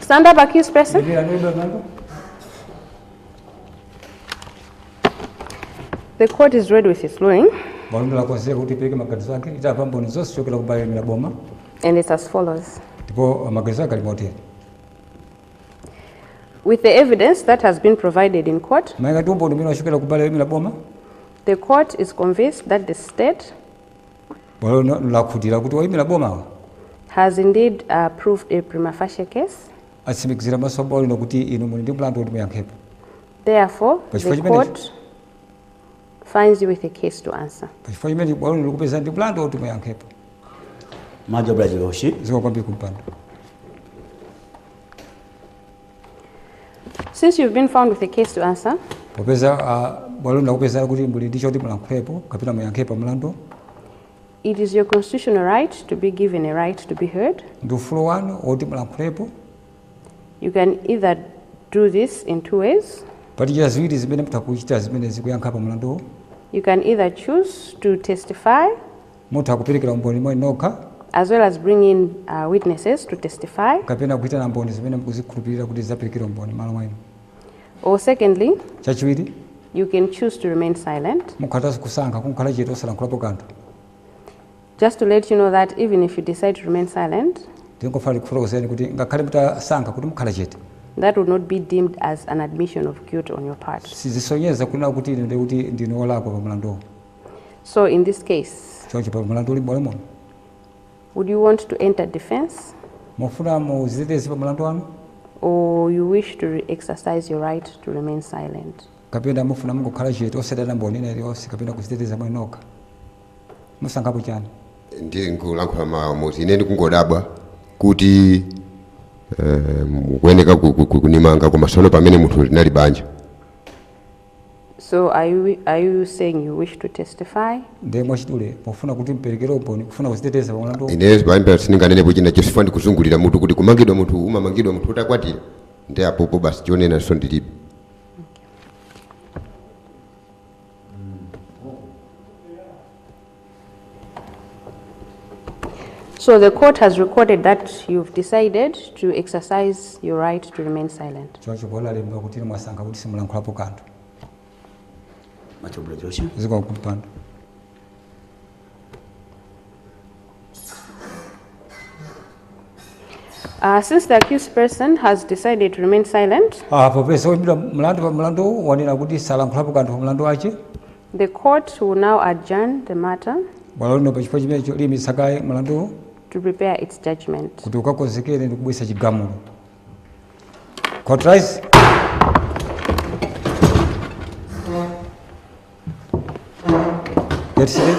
Stand up, accused person. The court is ready with its ruling. Bwalo lakonzeka kuti ipereke maganizo ake litamva mboni zonse kuchokera ku bwalo la boma And it's as follows. ndipo maganizo ake ali motere With the evidence that has been provided in court, malinga ndi umboni umene wachokera ku bwalo la boma the court is convinced that the state Bwalo lino lakhutira kuti oyimira bomawa. has indeed proved a prima facie case. atsimikizira pamaso pa bwalo lino kuti inu muli ndi mlandu woti muyankhepo. Therefore, Pa chifukwa the chimenechi- court finds you with a case to answer. Pa chifukwa chimenechi bwalo lino likupeza ndi mlandu woti muyankhepo. Much obliged, Your Worship. Zikomo kwambiri kumpando. Since you've been found with a case to answer, popeza ah, bwalo lakupezani kuti muli ndi choti mulankhulepo kapena muyankhepo pa mlanduwu it is your constitutional right to be given a right to be heard. ndi ufulu wanu woti mulankhulepo You can either do this in two ways. pali njira ziwiri zimene mutha kuchita zimene zikuyankha pa mlanduwo You can either choose to testify Mutha kuperekera umboni mwa inu nokha. as well as bring in witnesses to testify. kapena kuitana mboni zimene mukuzikhulupirira kuti zidzaperekere umboni m'malo mwa inu. Or secondly, Chachiwiri, you can choose to remain silent. mukhatanso kusankha kungokhala chete osalankhulapo kanthu. Just to let you know that even if you decide to remain silent, Ndingofuna ndikufotokozereni kuti ngakhale mutasankha kuti mukhala chete, that would not be deemed as an admission of guilt on your part. sizisonyeza kunena kuti inu ndiye kuti ndinu olakwa pa mlanduwo. So in this case, choncho pa mlandu uli m'bwalo muno would you want to enter defense mufuna muziteteze pa mlandu wanu or you wish to re- exercise your right to remain silent? kapena mufuna mungokhala chete osaitana mboni ina iliyonse kapena kuziteteza mwa inu nokha musankhapo chani ndingolankhula mawu moti ine ndikungodabwa kuti eh, mukuyeneka ku- ku- ku- kundimanga koma sono pamene munthu linali banja So are you, are you saying you wish to testify? ndiye mwachidule mufuna kuti muperekere umboni kufuna kuziteteza pa mlandu uwu. ine bambo sindinganenepo china chifukwa ndikuzungulira mutu kuti kumangidwa munthu umamangidwa munthu utakwatira ndi apopo basi chonenanso ndilibe So the court has recorded that you've decided to exercise your right to remain silent. choncho bwalo lalemba kuti inu mwasankha kuti simulankhulapo kanthu Much obliged. zikomo kumpando Uh, since the accused person has decided to remain silent, Ah, popeza oyimbidwa mlandu pa mlandu wanena kuti salankhulapo kanthu pa mlandu wake The court will now adjourn the matter. Bwalo lino pa chifukwa chimenecho liyimitsa kaye mlanduwu. To prepare its judgment. Kuti ukakonzekere ndi kubweretsa chigamulo. Court rise. Get seated.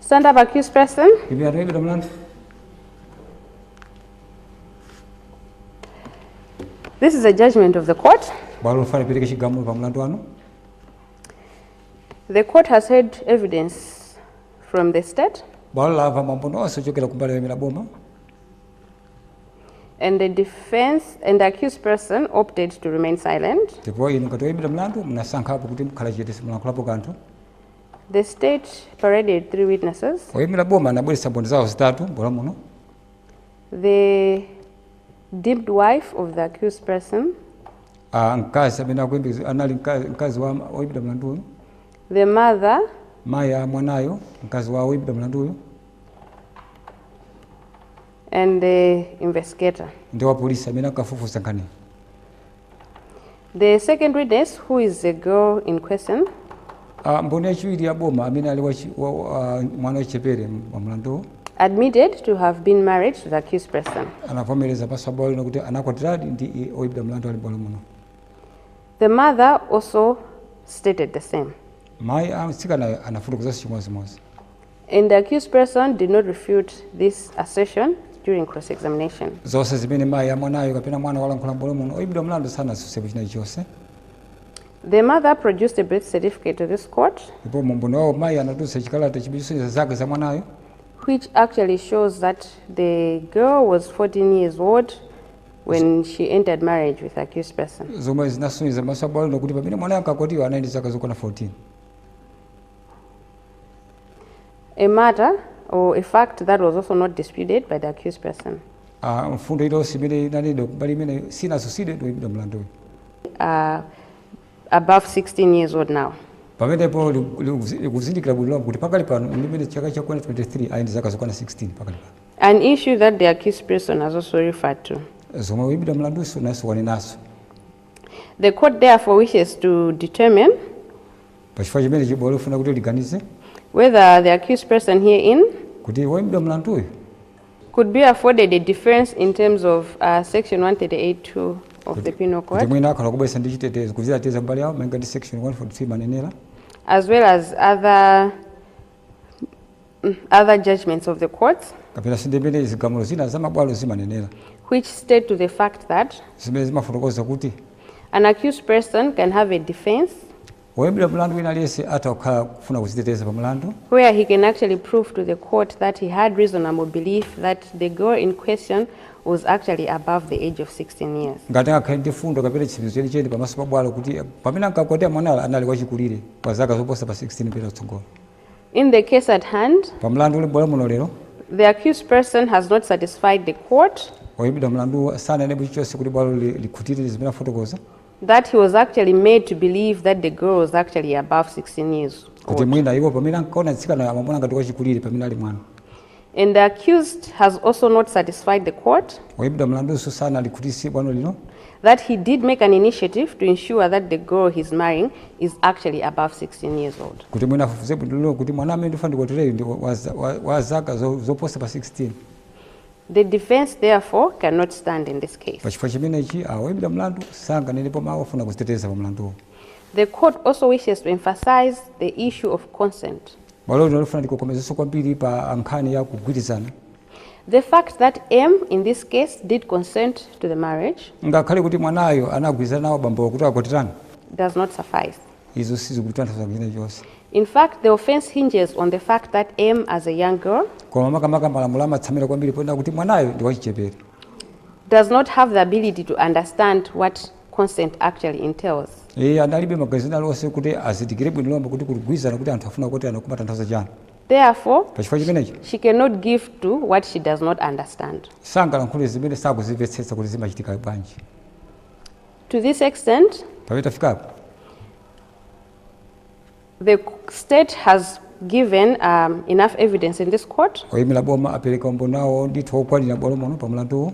Stand up, accused person. Imirirani oyimbidwa mlandu. This is a judgment of the court. bwalo lifuna lipereke chigamulo pa mlandu wanu The court has heard evidence from the state. bwalo lamva maumboni onse ochokera kumbali yoyimira boma and the defense and the accused person opted to remain silent. Ndipo inu ngati oyimbidwa mlandu munasankhapo kuti mukhala chete simulankhulapo kanthu. The state paraded three witnesses. Oyimira boma anabweretsa mboni zawo zitatu m'bwalo muno. The deemed wife of the accused person. Ah, mkazi amene akuyembekeza anali mkazi wa oyimbidwa mlandu uyu. The mother. Mayi a mwanayo mkazi wa oyimbidwa mlandu uyu. and the investigator. ndi wapolisi amene ankafufuza nkhaniyo The second witness, who is the girl in question, Ah, mboni yachiwiri ya boma amene ali wachi- wa- wa- ah, mwana wachichepere wa mlanduwo admitted to have been married to the accused person. anavomereza pamaso pa bwalo lino kuti anakwatiradi ndi i- oyimbidwa mlandu ali m'bwalo muno The mother also stated the same. mayi a mtsikanayo anafotokozanso chimodzimodzi And the accused person did not refute this assertion during cross examination. zonse zimene mayi amwanayo kapena mwana walankhula m'bwalo muno oyimbidwa mlandu sanatsutsepo china chonse The mother produced a birth certificate to this court, ndipo mu umboni wawo mayi anatulutsa chikalata chimene chimasonyeza zaka za mwanayo which actually shows that the girl was 14 years old when she entered marriage with the accused person. zomwe zinasonyeza pamaso pa bwalo lino kuti pamene mwanayo ankakwatiwa anali ndi zaka zokwana 14 a matter or a fact that was also not disputed by the accused person. Uh, mfundo iliyonse imene inanenedwa mbali imene sinatsutsidwe ndi oyimbidwa mlanduyo uh, above 16 years old now pamenepo likuzindikira bwino lomwe kuti pakali pano imene chaka cha 2023 ali ndi zaka zokwana 16 pakali pano an issue that the accused person has also referred to zomwe woyimbidwa mlandunso nayenso wanenanso the court therefore wishes to determine pachifukwa chimenechi bwalo lifuna kuti liganize whether the accused person herein kuti woimbidwa mlanduyu could be afforded a defense in terms of uh, section 138.2 of the penal code kuti mwina akhala kubweretsa ndi chitetezo kudziteteza mbali yawo malinga ndi section 143 imanenera as well as other other judgments of the courts kapenanso ndi mmene zigamulo zina za mabwalo zimanenera which state to the fact that zimene zimafotokoza kuti an accused person can have a defense woyimbidwa mlandu wina aliyense atha kukhala kufuna kuziteteza pa mlandu where he can actually prove to the court that he had reasonable belief that the girl in question was actually above the age of 16 years. ngati angakhale ndi mfundo kapena chitsimikizo chenicheni pamaso pa bwalo kuti pamene ankakwatira mwanayo anali wachikulire pa zaka zoposa pa 16 kupita kutsogolo. In the case at hand, Pa mlandu uli m'bwalo muno lero, the accused person has not satisfied the court oyimbidwa mlanduwo sananenepo chilichonse kuti bwalo li- likhutire zimene afotokoza that he was actually made to believe that the girl was actually above 16 years kuti old. mwina iwo pamene ankaona mtsikana amamuona ngati wachikulire pamene ali mwana. And the accused has also not satisfied the court. Oyimbidwa mlanduso sanalikhutitse bwalo lino. That he did make an initiative to ensure that the girl he's marrying is actually above 16 years old. Kuti mwina afufuze bwino kuti mwana amene ndifuna ndikwatireyu ndi wa zaka zoposa pa 16. The defense therefore cannot stand in this case. Pachifukwa chimenechi awoyimbidwa ah, mlandu sanganenepo mawu ofuna kuziteteza pa mlanduwu. The court also wishes to emphasize the issue of consent. Bwalo lino lifuna ndikokomezenso kwambiri pa nkhani ya kugwirizana. The fact that M in this case did consent to the marriage Ngakhale kuti mwanayo anagwirizana nawo bambowo kuti akwatirane, does not suffice. izo sizikutanthauza china chilichonse. In fact, the offense hinges on the fact that M, as a young girl, Koma makamaka malamulo amatsamira kwambiri ponena kuti mwanayo ndi wachichepere. does not have the ability to understand what consent actually entails. Iye analibe maganizo ena alionse kuti azindikire bwino lomwe kuti kugwirizana kuti anthu afuna kukwatirana kumatanthauza chani. Therefore, Pachifukwa chimenechi, she cannot give to what she does not understand. sangalankhule zimene sakuzimvetsetsa kuti zimachitika bwanji. To this extent, Pamene tafikapo, The state has given um, enough evidence in this court. Oyimira boma apereka umboni wawo ndithu wokwanira bwalo muno pa mlanduwu.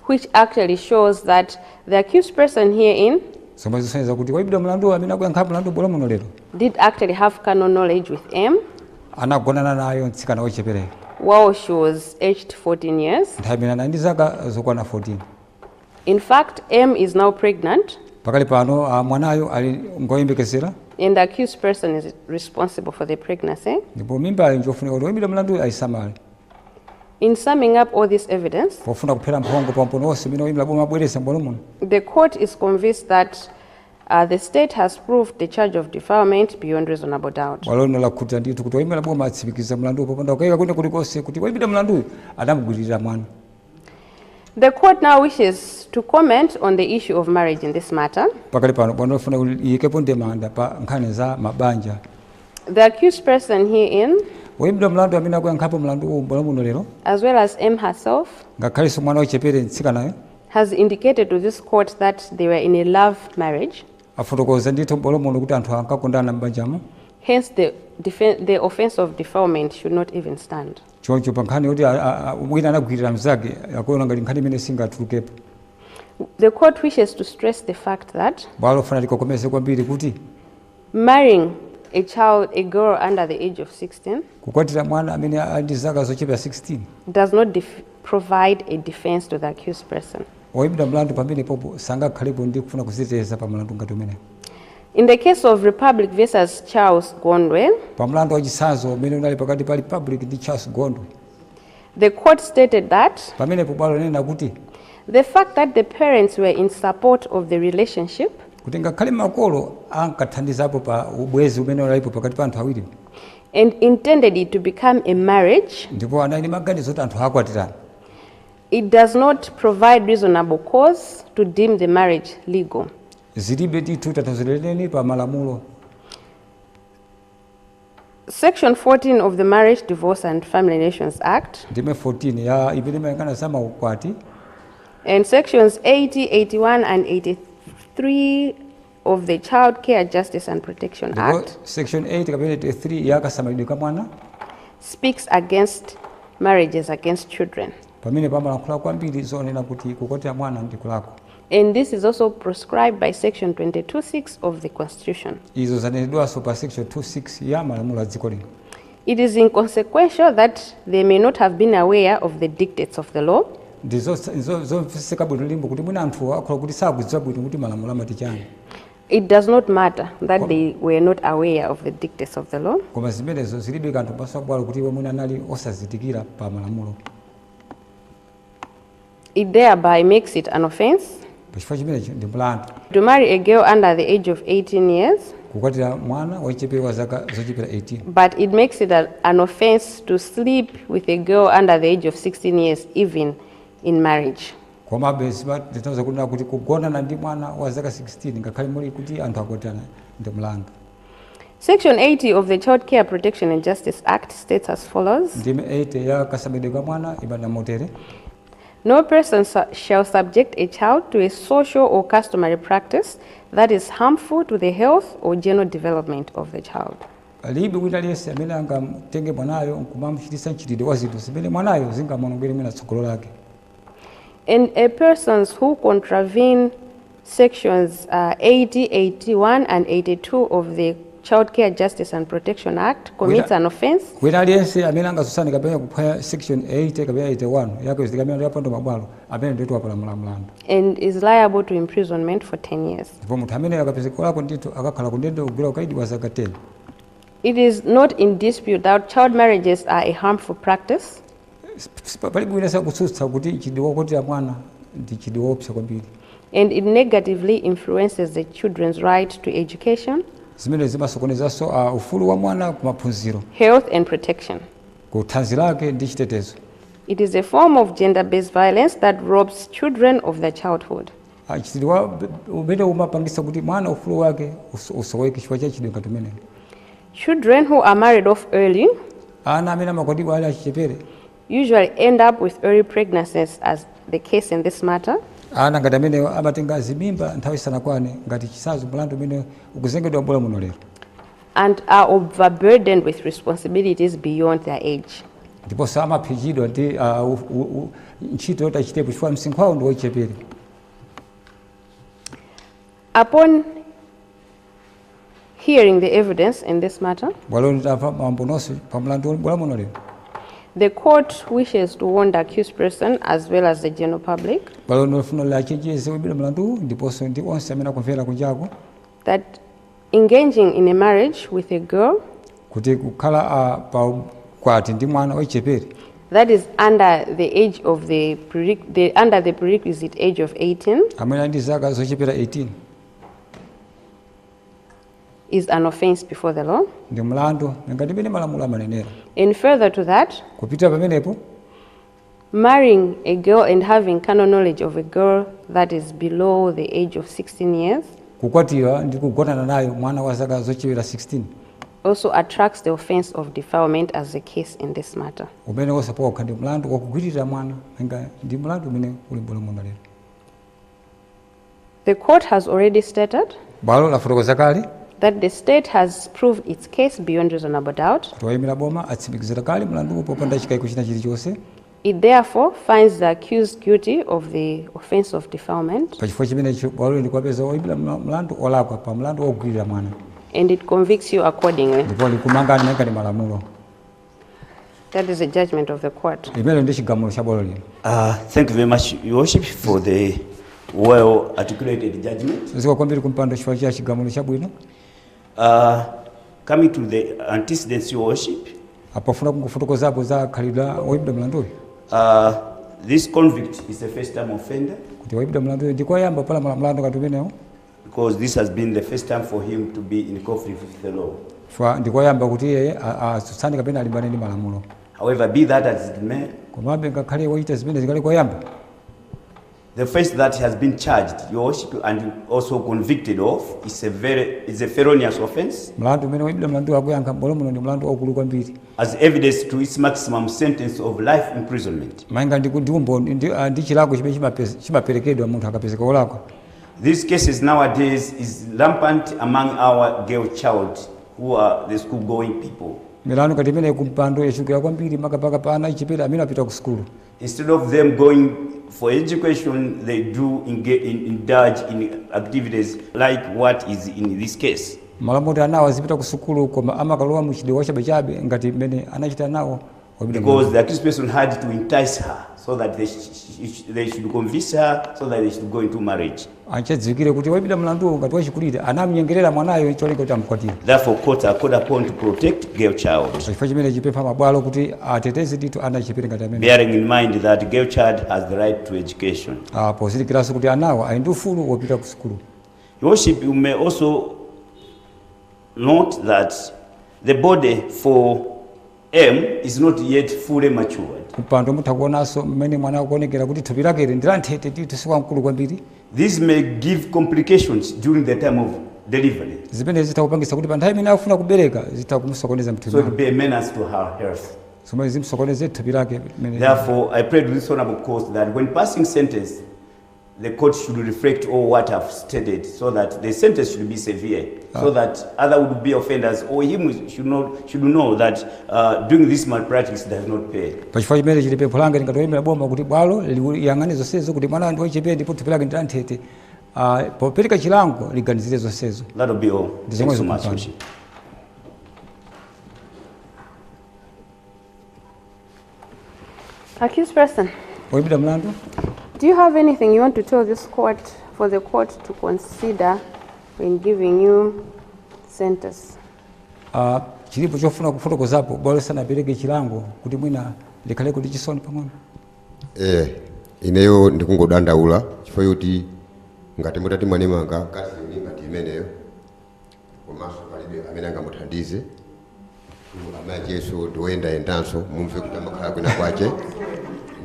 Which actually shows that the accused person herein zomwe zisonyeza kuti woyimbidwa mlandu amene akuyankha mlandu bwalo muno lero did actually have carnal knowledge with M anagonana naye mtsikana wochepekera while she was aged 14 years nthawi imene anali ndi zaka zokwana 14 In fact, M is now pregnant. Pakali pano uh, mwanayo ali ngoyembekezera. And the accused person is responsible for the pregnancy. Ndipo mimbayo njofunika kuti woimbidwa mlanduyu aisamale. In summing up all this evidence, pofuna kuphera mphongo pa umboni wonse umene woimira boma abweresa m'bwalo muno. The court is convinced that Uh, the state has proved the charge of defilement beyond reasonable doubt. Bwalo lino lakhutira ndithu kuti woimira boma atsimikiza mlanduwo popanda kukayika kwina kulikonse kuti woimbidwa mlanduyu adamugwiririra mwana. The court now wishes to comment on the issue of marriage in this matter. Pakali pano bwalo lifuna kuti iyikepo ndemanga pa nkhani za mabanja. The accused person herein woyimbidwa mlandu amene akuyankhapo mlandu uwu m'bwalo muno lero as well as M herself ngakhalenso mwana wachichepere mtsikanayo has indicated to this court that they were in a love marriage afotokoza ndithu m'bwalo muno kuti anthu ankakondana m'banjamo hence the, the offense of defilement should not even stand Choncho pa nkhani yoti wina anagwirira mnzake, akuona ngati nkhani imene singatulukepo. The court wishes to stress the fact that. Bwalo lifuna likokomeze kwambiri kuti. Marrying a child, a girl under the age of 16. Kukwatira mwana amene ali ndi zaka zochepera 16. Does not provide a defense to the accused person. Oyimbidwa mlandu pamenepopo sangakhalepo ndi kufuna kuziteteza pa mlandu ngati umenewo. In the case of Republic versus Charles Gondwe. Pa mlandu wa chitsanzo umene unali pakati pa Republic ndi Charles Gondwe. The court stated that. Pamenepo bwalo linanena kuti. The fact that the parents were in support of the relationship. Kuti ngakhale makolo ankathandizapo pa ubwezi umene unalipo pakati pa anthu awiri. And intended it to become a marriage. Ndipo anali ndi maganizo kuti anthu akwatirana. It does not provide reasonable cause to deem the marriage legal. zilibe ndithu tanthauzo lenileni pa malamulo. Section 14 of the Marriage, Divorce and Family Relations Act Ndime 14 ya imene imayang'ana za maukwati and sections 80, 81 and 83 of the Child Care Justice and Protection Act ndipo section 80 kapena 83 ya kasamalidwe ka mwana speaks against marriages against children. pamene pamalankhula kwambiri zonena kuti kukwatira mwana ndi kulakwa. And this is also proscribed by section 22 6 of the constitution. izo zanenedwanso pa section 26 ya malamulo a dziko lino It is inconsequential that they may not have been aware of the dictates of the law, ndi zosa- zo- zomveka bwino lomwe kuti mwina anthuwo akhoza kuti sakudziwa bwino kuti malamulo amati chani it does not matter that they were not aware of the dictates of the law. koma zimenezo zilibe kanthu pamaso a bwalo kuti iwo mwina anali osazindikira pa malamulo It thereby makes it an offence. Pa chifukwa chimenecho ndi mlandu. To marry a girl under the age of 18 years. Kukwatira mwana wachichepere wa zaka zochepera 18. But it makes it a, an offence to sleep with a girl under the age of 16 years even in marriage. Komabe zimatanthauza kunena kuti kugonana ndi mwana wa zaka 16 ngakhale muli kuti anthu akwatirana ndi mlandu. Section 80 of the Child Care Protection and Justice Act states as follows. Ndime 80 ya kasamalidwe ka mwana imanena motere. No person shall subject a child to a social or customary practice that is harmful to the health or general development of the child. Palibe wina aliyense amene angamtenge mwanayo nkumamchititsa mchitidwe wa zinthu zimene mwanayo zingamuonongere mwina tsogolo lake. and a persons who contravene sections uh, 80, 81 and 82 of the Child Care Justice and Protection Act commits an offense wina aliyense amene angatsutsane kapena kuphwanya section 80 kapena 81 ya kachitidwe kamene ya pandamabwalo amene ndithu wapalamula mlandu and is liable to imprisonment for 10 years. ndipo munthu amene akapezeka wolakwa ndithu akakhala kundende kugwira ukaidi wa zaka 10 It is not in dispute that child marriages are a harmful practice. Palibe wina amene akutsutsa kuti mchitidwe wokwatira mwana ndi mchitidwe woopsa kwambiri. and it negatively influences the children's right to education. Zimenezi zimasokonezanso a, ufulu wa mwana ku maphunziro. health and protection. ku thanzi lake ndi chitetezo. It is a form of gender-based violence that robs children of their childhood. a, mchitidwe wa- umene umapangitsa kuti mwana ufulu wake uso- usoweke chifukwa cha mchitidwe ngati umenewu. Children who are married off early. Ana amene amakwatiwa ali achichepere. usually end up with early pregnancies as the case in this matter. ana ngati amenewo amatenga zimimba nthawi isanakwane ngati chitsanzo mulandu umene ukuzengedwa m'bwalo muno lero and are overburdened with responsibilities beyond their age. ndiponso amapsinjidwa ndi ah, u- u- u- ntchito yoti achitepo chifukwa msinkhu wawo ndi wochepere Upon Hearing the evidence in this matter, bwalo litamva maumboni onse pa mlandu uli m'bwalo muno lero the court wishes to warn the accused person as well as the general public bwalo lino lifuna liwachenjeze oimbidwa mlanduwu ndiponso ndi onse amene akumvera kunjako that engaging in a marriage with a girl kuti kukhala ah, pa kwati ndi mwana wachichepere that is under the age of the, prere- the under the prerequisite age of 18 amene ali ndi zaka zochepera 18 is an offense before the law. ndi mlandu ngati mmene malamulo amanenera And further to that, kupitira pamenepo marrying a girl and having carnal knowledge of a girl that is below the age of 16 years kukwatira ndi kugonana nayo mwana wa zaka zochepera 16 also attracts the offense of defilement as the case in this matter. umene woosapokha ndi mlandu wakugwiririra mwana nga ndi mlandu umene uli m'bwalo muno lero The court has already stated. Bwalo lafotokoza kale. That the state has proved its case beyond reasonable doubt. Kuti woyimira boma atsimikizira kale mlanduwu popanda chikaiko china chilichonse. It therefore finds the accused guilty of the offense of defilement. Pachifukwa chimenechi bwalo likuwapeza woyimbidwa mlandu olakwa pa mlandu wogwirira mwana. And it convicts you accordingly. Ndipo likumangani malinga ndi malamulo. That is the judgment of the court. Chimenecho ndi chigamulo cha bwalo lino. Uh, thank you very much, Your Worship, for the well articulated judgment. Zikomo kwambiri kumpando chifukwa cha chigamulo chabwino. Uh, coming to the antecedents, Your Worship. Pofuna kungofotokozapo za khalidwe la woyimbidwa mlandu uyu. Uh, this convict is a first time offender. Kuti woyimbidwa mlandu uyu ndi koyamba kupalamula mlandu ngati umenewu. because this has been the first time for him to be in conflict with the law. Chifukwa ndikoyamba kuti iye atsutsane kapena alimbane ndi malamulo. However, be that as it may, komabe ngakhale wochita zimene zikali koyamba the offense that he has been charged your worship and also convicted of is a very is a felonious offense mlandu umene woyimbidwa mlanduyu akuyankha m'bwalo muno ndi mlandu waukulu kwambiri as evidence to its maximum sentence of life imprisonment malinga ndi umboni ndi ah, chilango chimene chimaperekedwa munthu akapezeka wolakwa These cases nowadays is rampant among our girl child who are the school going people. milandu ngati imeneyi kumpando yachulukira kwambiri makamaka pa ana achichepere amene apita ku sukulu Instead of them going for education, they do engage, in, indulge in activities like what is in this case. m'malo moti anawa azipita ku sukulu koma amakalowa m'mchitidwe wachabechabe ngati mmene anachita anawa Wabwino Because bwino. the accused person had to entice her so that they, sh- sh- sh- they should convince her so that they should go into marriage. nchodziwikiratu kuti woyimbidwa mlanduwo ngati wachikulire anamnyengerera mwanayo cholinga kuti amkwatire Therefore, courts are called upon to protect girl child, pachifukwa chimenechi ndipempha mabwalo kuti ateteze ndithu ana achichepere ngati amenewa bearing in mind that girl child has the right to education. Ah, pozindikiranso kuti anawa ali ndi ufulu wopita ku sukulu Your Worship, you may also note that the body for M is not yet fully matured. Kumpando mutha kuonanso mmene mwanayu akuonekera kuti thupi lakeli ndi lanthete ndithu si wamkulu kwambiri. This may give complications during the time of delivery. Zimenezi zitha kupangitsa kuti pa nthawi imene akufuna kubereka zitha kumusokoneza So it mthupi will be a menace to her health. zomwe zimsokoneze thupi lake limene- Therefore, I pray to this honorable court that when passing sentence, the court should reflect all what I've stated so that the sentence should be severe, ah. so that other would be offenders or him should not should know that uh, doing this malpractice does not pay. Pachifukwa chimenechi pempho langa ngati woyimira boma kuti bwalo liyang'ane zonsezo kuti mwana ndi wachichepere ndipo thupi lake ndilanthete uh, popereka chilango liganizire zonsezo. That'll be all. Thanks so much. Accused person, oyimbidwa mlandu do you have anything you want to tell this court for the court to consider when giving you sentence? Ah, chilipo chofuna kufotokozapo bwalo lisanapereke chilango kuti mwina likhale ndi chisoni pang'ono eh ineyo ndikungodandaula chifukwa choti ngati mutati mwandimanga mkazi yoni ngati imeneyo komanso palibe amene angamuthandize amakenso ndiwoyendayendanso mwamva kuti amakhala kwina kwache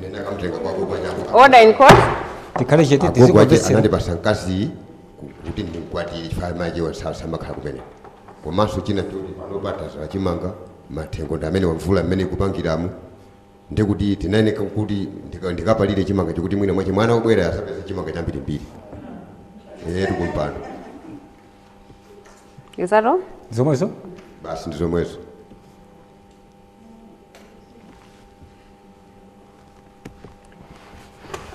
nene akamtenga kwako kwachako Order in court. tikhale chete agogo ache tizikomvetsera anandipasa mkaziyu ku- kuti ndimkwatire chifukwa amache samakhala kumene komanso china choti panopa tadzala chimanga mathengo ndi amera mvula mmene ikupangiramu ndikuti ndimayeneka kuti ndika- ndikapalire chimanga chija kuti mwina mwache mwana akabwera adzapeza chimanga chambirimbiri etu kumpando Is that all? zomwezo basi ndi zomwezo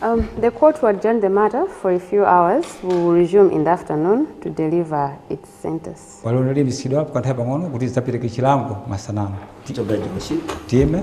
Um, the court will adjourn the matter for a few hours. We will resume in the afternoon to deliver its sentence. bwalo liyimitsidwa kwa nthawi pang'ono kuti lidzapereke chilango masana ano tiyime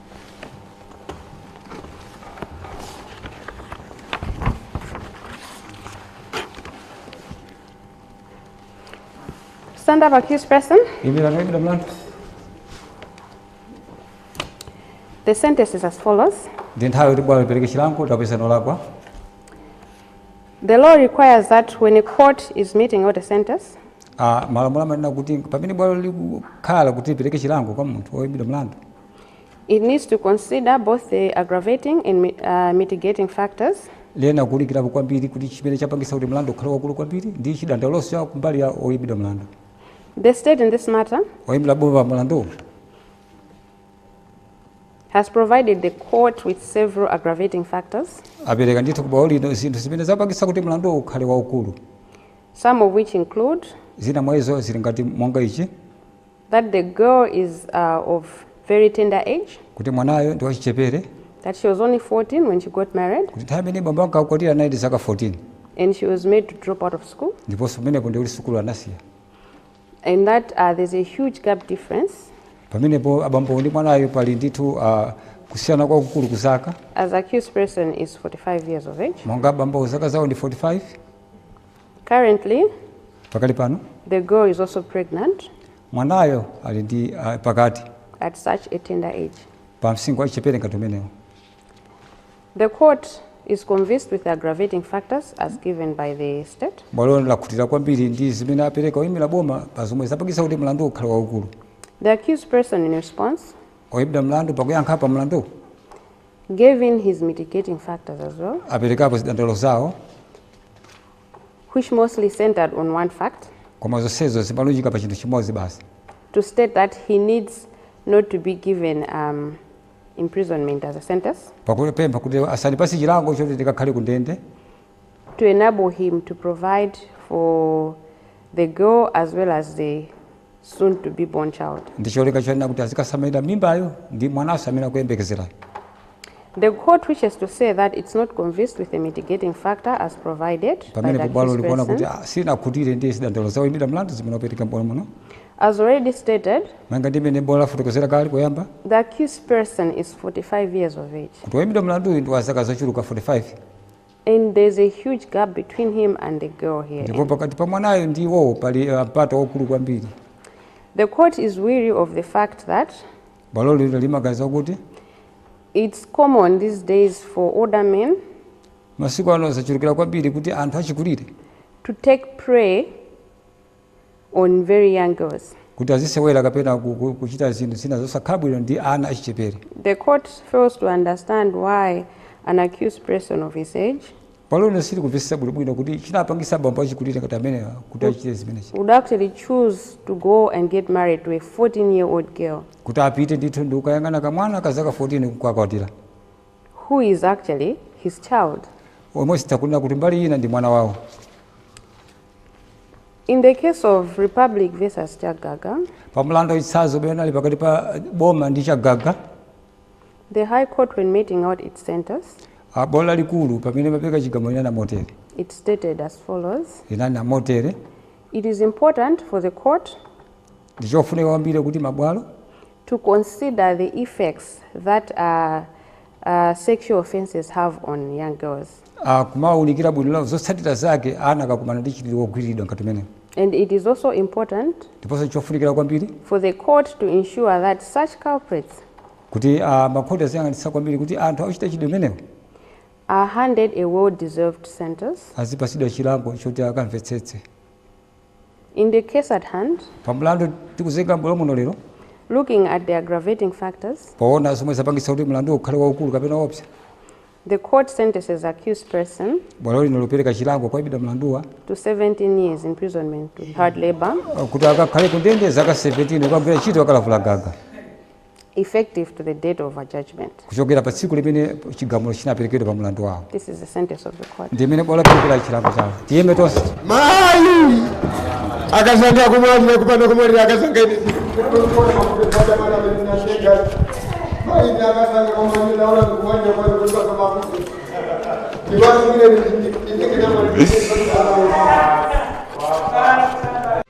Stand up, accused person. The sentence is as follows. The law requires that when a court is meting out a sentence, ah, malamulo amanena kuti pamene bwalo likukhala kuti lipereke chilango kwa munthu woyimbidwa mlandu It needs to consider both the aggravating and mi- uh, mitigating factors. liyenera kuunikirapo kwambiri kuti chimene chapangisa kuti mlandu ukhale waukulu kwambiri ndi chidandaulonso cha kumbali ya oyimbidwa mlandu The state in this matter oyimira boma mlandu has provided the court with several aggravating factors, apereka ndithu kubwalo lino zinthu zimene zapangisa kuti mlandu ukhale waukulu some of which include zina mwa izo zili ngati monga ichi That the girl is uh, of very tender age. Kuti mwanayo ndi wachichepere. That she was only 14 when she got married. Kuti nthawi imene bambo ankakwatira anali ndi zaka 14. And she was made to drop out of school. Ndiponso pamenepo ndikuti sukulu anasiya. And that uh, there's a huge gap difference. Pamenepo abambo ndi mwanayo pali ndithu uh, kusiyana kwakukulu kuzaka. As accused person is 45 years of age. Monga bambo zaka zawo ndi 45. Currently, pakali pano the girl is also pregnant mwanayo ali ndi ah, pakati at such a tender age. pa msinkhu wachichepere ngati umenewo The court is convinced with the aggravating factors as given by the state. bwalo lakhutira kwambiri ndi zimene apereka oyimira boma pa zomwe zapangitsa kuti mlandu ukhale waukulu The accused person in response oyimbidwa mlandu pakuyankha pa mlandu gave in his mitigating factors as well, aperekapo zidandaulo zawo which mostly centered on one fact koma zonsezo zimalunjika pa chinthu chimodzi basi to state that he needs not to be given um, imprisonment as a sentence, pakupempha kuti asandipatse chilango choti ndikakhale ku ndende to enable him to provide for the girl as well as the soon to be born child. ndicholinga chonena kuti azikasamalira mimbayo ndi mwananso amene akuyembekezerayo The court wishes to say that it's not convinced with the mitigating factor as provided by pamene bwalo likuona the accused person. kuti ah, sinakhutire ndi zidandaulo za oyimbidwa mlandu zimene apereka m'bwalo muno As already stated, monga mmene bwalo lafotokozera kale koyamba the accused person is 45 years of age. kuti woyimbidwa mlanduyu ndi wa zaka zochuluka 45 And there's a huge gap between him and the girl here. ndipo pakati pa mwanayo ndi iwowo pali uh, mpata waukulu kwambiri The court is weary of the fact that bwalo lino limaganiza kuti it's common these days for older men masiku ano zachulukira kwambiri kuti anthu achikulire to take prey on very young girls. kuti azisewera kapena ku- ku- kuchita zinthu zina zosakhala bwino ndi ana achichepere The court fails to understand why an accused person of his age bwalo lino silikumvetsetsa bwinobwino kuti chinapangisa abambo achikulire ngati amenewa kuti achite zimenezi would actually choose to go and get married to a 14 year old girl kuti apite ndithu ndi kukayang'ana kamwana ka zaka 14 kukakwatira who is actually his child. komwe tikunena kuti mbali ina ndi mwana wawo In the case of Republic versus Chagaga, pa mlandu wa chitsanzo umene unali pakati pa eh, boma ndi chagaga the High Court, when meting out its sentence, ah, bwalo lalikulu pamene limapereka chigamulo linanena motere it stated as follows linanena motere It is important for the court ndi chofunika kwambiri kuti mabwalo to consider the effects that ah sexual offenses have on young girls. akumaunikira bwino lomwe zotsatira zake ana akakumana ndi mchitidwe wogwiriridwa ngati umenewu And it is also important ndiponso n'chofunikira kwambiri for the court to ensure that such culprits kuti ah, makhoti aziyang'anitsitsa kwambiri kuti anthu akuchita mchitidwe umenewu are handed a well-deserved sentence. azipatsidwa chilango choti akamvetsetse In the case at hand, pa mlandu tikuzenga m'bwalo muno lero looking at the aggravating factors, poona zomwe zapangitsa kuti mlanduwo ukhale waukulu kapena woopsa the court sentences accused person bwalo lino likupereka chilango kwa oimbidwa mlanduwa to 17 years imprisonment with hard labor uh, kuti akakhale kundende zaka 17 kukagwira ntchito yakalavula gaga effective to the date of judgment. kuchokera pa tsiku limene chigamulo chinaperekedwa pa mlandu wawo This is the sentence of the court. ndi mmene bwalo laperekera chilango chawo tiyime tonse mayi akazanga kumwalira kupanda kumwalira akazanga ine Thank you.